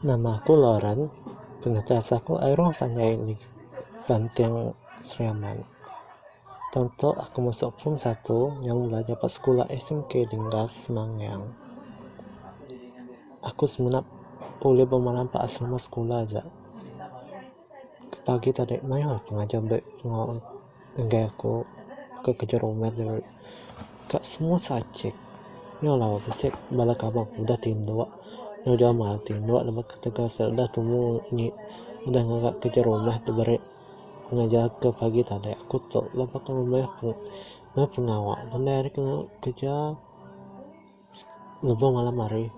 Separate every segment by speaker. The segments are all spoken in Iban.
Speaker 1: Nama aku Lauren, pengeteas aku Iroh panjai neg Banting Sri Aman. Tang tu aku masuk form satu nyau belajar ba sekula SMK Dinggar Semangyang. Aku semina ulih ba malam ba asrama sekula aja. Pagi tadi mayuh pengajar beri pengawa. Enggai aku ke kejerumat nya ka semua subjek nya lah bisi bala kaban ku udah tindu ngujau ama tindu laban ketegal sida udah tumu nyi udah ngaga kerja rumah ti beri ngajar ke pagi tadi aku tok laban aku meh meh pengawa ngendai ari ke ngaga kerja. Lebuh malam hari,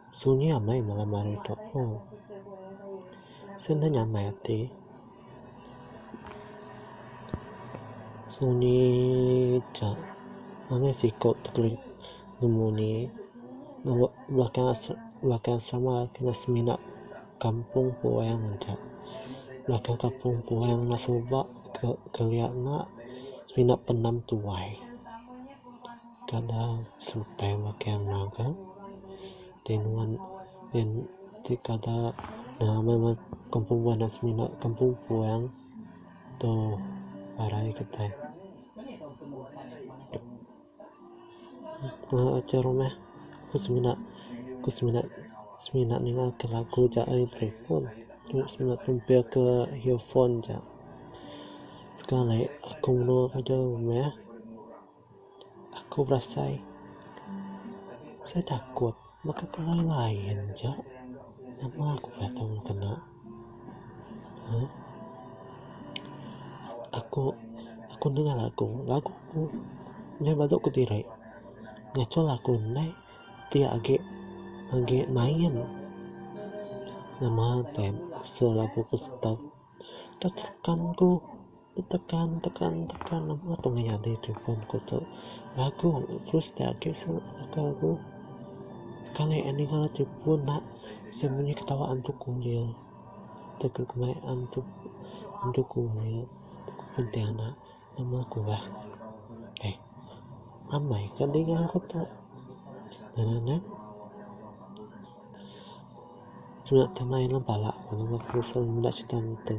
Speaker 1: sunyi amai malam hari tu. Uhh. Sien ne nyamai ati. Sunyi aja. Anih siko ti kilik nemu anih ye. Lebuh belakang as, belakang asrama ti rak semina kampung puang aja. Belakang kampung puang enda suba ke, kelia enda. Semina penam tuai. Kada sutai makai anang ka ti nuan ti kada nang kampung puan anak semina kampung puan tu arai kitai ke rumah ku semina ku semina semina ninga ke lagu ja ai telefon semina pempek ke earphone ja sekali aku mene ka ja rumah. Aku berasai sai takut baka ke line line ja nama aku kaii tau nemu kena uhh aku aku dengar lagu lagu ku meh badu ku diri ngaco lagu indai ti agi agi main nama time selalu ku stop. Tetekan ku tetekan tekan tekan apai ku meh nyadi telefon ku tu lagu terus ti agi aku lagu kalai a ninga telefon da sien meh ketawa antu kulir tu ke kemaik antu kulir pontianak. Nama ku bah eh amai ka dinga aku tu nananak surat tu main dalam pala ku nama ku selalu meda serita ngetu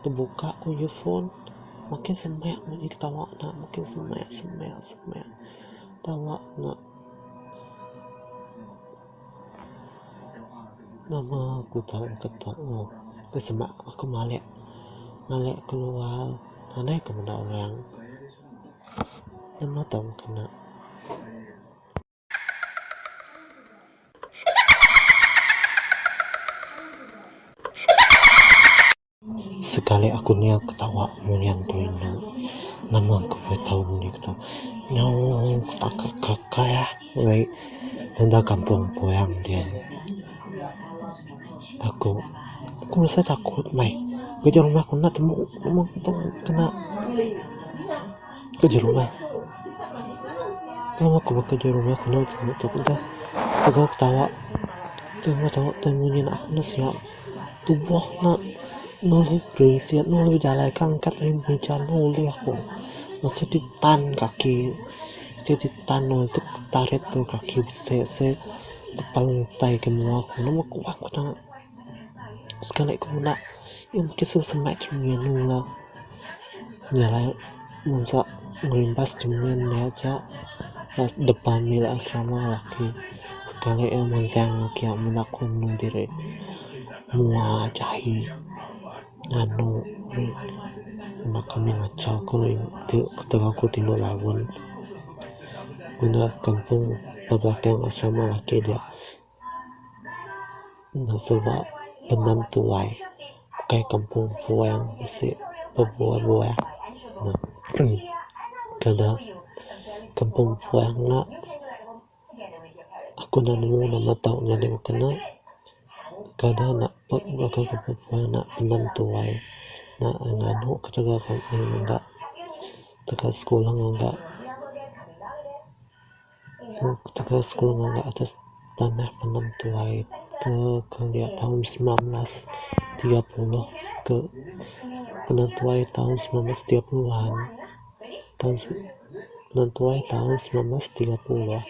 Speaker 1: tebuka ku earphone makin semak meri ketawa nya makin semak semak semak ketawa nya. Nama aku tau keteak mu ku sema aku malek malek keluar nadai ku meda orang nama tau kena. Sekali aku niaw ketawa munyi tu indu nama ku kaii tau munyi tu nyau takak kakai ah wei enda kampung puang dian aku aku rasa takut meh keja rumah ku enda temu meng tu kena keja rumah tau ku ba keja rumah kena temu tu ketawa tau munyi nya sia. Tubuh nya nulih gresik nulih bejalai ke angkat ain ujan tu ulih aku mesti ti tan kaki mesti ti tan udip tarit tulu kaki bisi se tepal utai ke mua aku ne meh kuak ku ta sekali ku meda nya mungkin sesame cheminu la. Nyelai bansa ngerimbas jemin ne aja depan mile asrama laki kalai eh mansang kia meng aku mende diri mua jahi nganu anak ami ngachau ku ketegal ku tingu laun ngena kampung bebatuan asrama laki dia. Nya suba benam tuai ukai kampung puang bisi bebuah-buah ne kena kampung puang nya aku enda nemu nama tau ngadan baka ne kada nak pun baka kampung puang nya benam tuai nya nganu ketegal kampung nya enda tegal sekula enda. Ketegal sekula ngaga atas tanah penem tuai ke kelia taun semilan belas tiga puluh ke penem tuai taun semilan belas tiga puluh an taun penem tuai taun semilan belas tiga puluh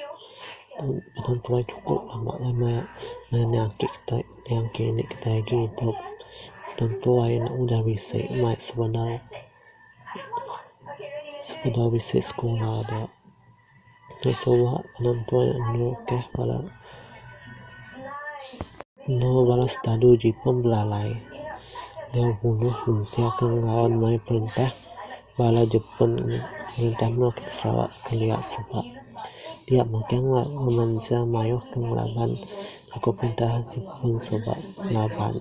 Speaker 1: penem tuai chuku lama laei maya maya nya ake kitai nya ake ini kitai agi idup penem tuai nya udah bisi maya sebedau sebedau bisi sekula dia. Nya suba penentu anu teh bala anu bala setalu ji pun belalai nyau bunuh mensia ke ngerean maya perintah bala Jepen perintah meh ti Sarawak kelia suba dia mega mensia mayuh ke ngelaban aku perintah Jepen suba ngelaban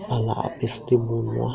Speaker 1: bala opis ti bunuh.